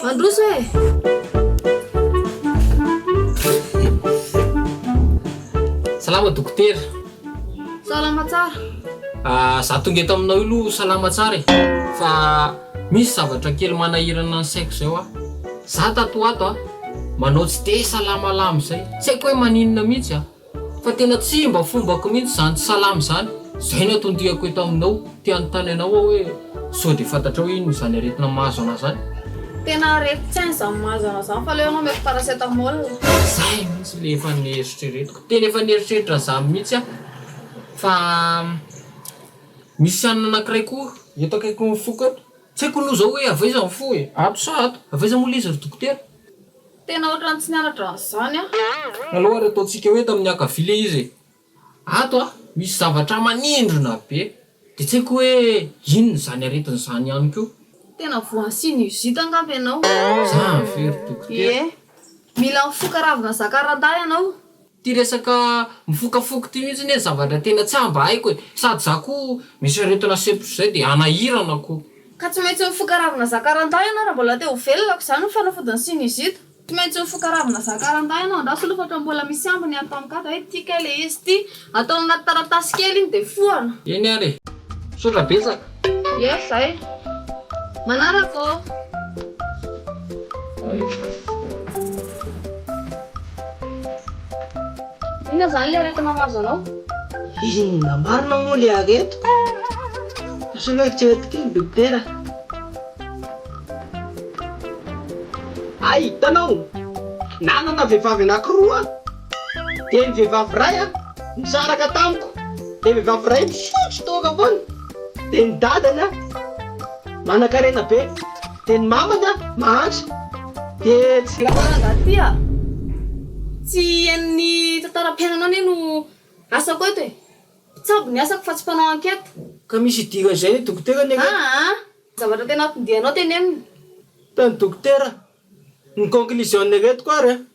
Mandroso e! Salama dokotera. Salama tsara. Ah, za tonga eto aminao io aloha salama tsara e. Fa misy zavatra kely manahirana ny saiko zay hoa. Za tato ho ato a, manao tsy de salama lamina zay. Tsy haiko hoe maninona mihitsy a. Fa tena tsy mba fombako mihitsy izany salama izany, izay no atondihako eto aminao, te hanontany anao aho hoe sao dia fantatrao inona izany aretina mahazo anà izany? Tena aretin-tsaina izany mahazo anà izany, fa aleo ianao omeko paracetamol. Izay mihitsy ilay efa nieritreretiko, tena efa nieritreritra an'izany mihitsy aho, fa misy anona anankiray koa eto akaikin'ny foko eto. Tsy haiko aloha zao hoe avy aiza ny fo e! Ato sa ato? Avy aiza moa leizy ry dokotera? Tena ohatrany tsy nianatra an'izany aho. Alou ary ataontsika hoe tamin'ny ankavia ilay izy e! Ato an, misy zavatra manindrona be. Dia tsy haiko hoe inona izany aretina izany ihany koa. Tena voan'ny sinusite angamba ianao. Zany ve ry dokotera? Ie. Mila mifoka ravina zakarandahy ianao. Ty resaka mifoka foko ty mihitsy anie zavatra tena tsy mba haiko e! Sady za ko misy aretina septro zay de anahirana ko. Ka tsy maintsy mifoka ravina zakarandahy ianao raha mbola te ho velona ko izany ny fanafodin'ny sinusite. Tsy maintsy mifoka ravina zakarandahy ianao andraso aloha fa ohatran'ny mbola misy ambiny any tamkada hoe ty kay le izy ty. Atao anaty taratasy kely iny de fohana. Eny ary e! Misaotra betsaka. Ie zay. Manaraka ô. Inona zany le aretina mahazo anao? Inona marina moa le aretina? Asao eritrereto kely dokotera a! Hay hitanao, nanana vehivavy anankiroa aho. Dia ny vehivavy iray an, nisaraka tamiko, dia vehivavy iray misotro toaka foana, dia ny dadany an, manankarena be, dia ny mamany an, mahantra, dia tsy. Raha rangahy ty a! Tsy henon'ny tantaram-piainana anie no asako eto e! Mpitsabo ny asako fa tsy mpanao enquête. Ka misy idiran'ny zain'i dokotera anie ireto. Aa! Ny zavatra tena ampindianao tenenina. Tany dokotera, ny conclusion-ny ireto koa ary an!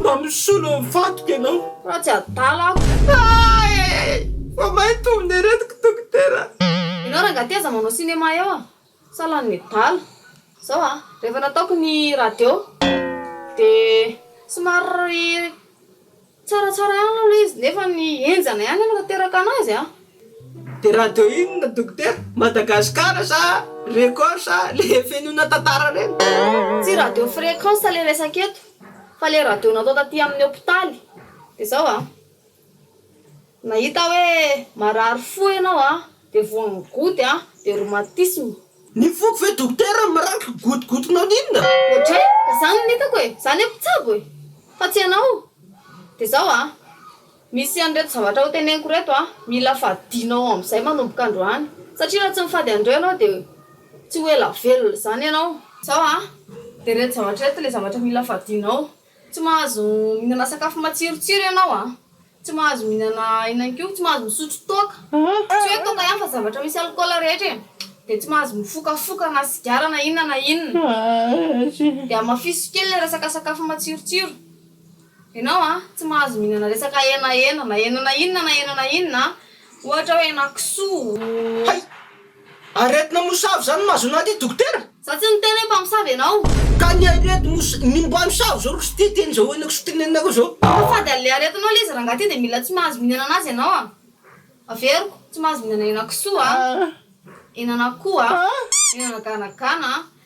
Mba misolo ny vatoko ianao. Fa tsy adala aho. Ay ay ay! Fa may tombony aretiko dokotera. Ianao rangahy ty aza manao cinéma eo a! Sa lany medala. Zao a! Rehefa nataoko ny radio de somary tsaratsara ihany aloha ilay izy nefa ny henjana ihany no nateraka anazy a! De radio inona dokotera? Madagascar sa record sa le fenoina tantara reny? Tsy radio fréquence le resaka eto fa le radio natao taty aminy hopitaly de zao a, nahita hoe marary fo enao a de voan'ny goutte a de rhumatisme. Ny foko ve dokotera miranty gotigotinao n'inona? Otray ka zany no hitako e, za nefa tsabo e, fa tsy enao, de zao a, Misy an'ireto zavatra hoteneniko ireto an, mila fadianao amin'izay manomboka androany, satria raha tsy mifady an'ireo ianao dia tsy ho ela velona izany ianao. Izao an, dia ireto zavatra ireto ilay zavatra mila fadianao, tsy mahazo mihinana sakafo matsirotsiro ianao an, tsy mahazo mihinana ihany koa tsy mahazo misotro toaka, tsy hoe toaka ihany fa zavatra misy alikaola rehetra e, dia tsy mahazo mifokafoka na sigara na inona na inona, dia hamafiso kely ilay resaka sakafo matsirotsiro. Ianao an, tsy mahazo mihinana resaka henahena na henana inona na henana inona an, ohatra hoe henakisoa. Hay! Aretina mosavy izany no mahazo an'ity dokotera? Za tsy niteny hoe mpamosavy ianao. Ka ny arety mos ny mpamosavy izao ry ity teny izao henakisoa tenenako izao. Fa fady an'ilay aretinao ilay izy rangahy ity dia mila tsy mahazo mihinana anazy ianao an. Averiko, tsy mahazo mihinana henakisoa an, henan'akoho an, henana ganagana an.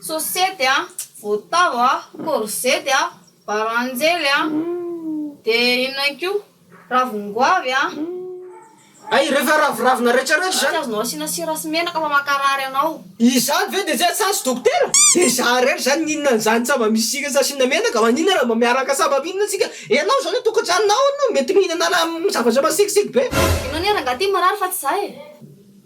Sosety a, votavo a, korzety a, baranjely a, de inona koa, ravin-goavy a. Hay, rehefa raviravina retraretra izany. Tsy azonao asiana sira sy menaka fa mankarary anao. Izany ve dia tsy asazy dokotera? Dia izaho irery izany mihinana an'izany tsy mba misy sira sy asiana menaka, maninona raha mba miaraka sa mba mihinana isika? Ianao izao ny ao tokantranonao no mety mihinana raha zavatra masikitsiky be. Ianao anie rangahy ity marary fa tsy izaho e.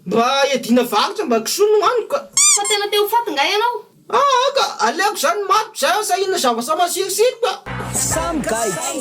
Mba iadiana varotra mba kisoa no haniko ka. Fa tena te ho faty nga ianao? Aa ka! Aleoko zany ny matiko zay aho sahina zavatra masirosiro ka! Samy gaigy!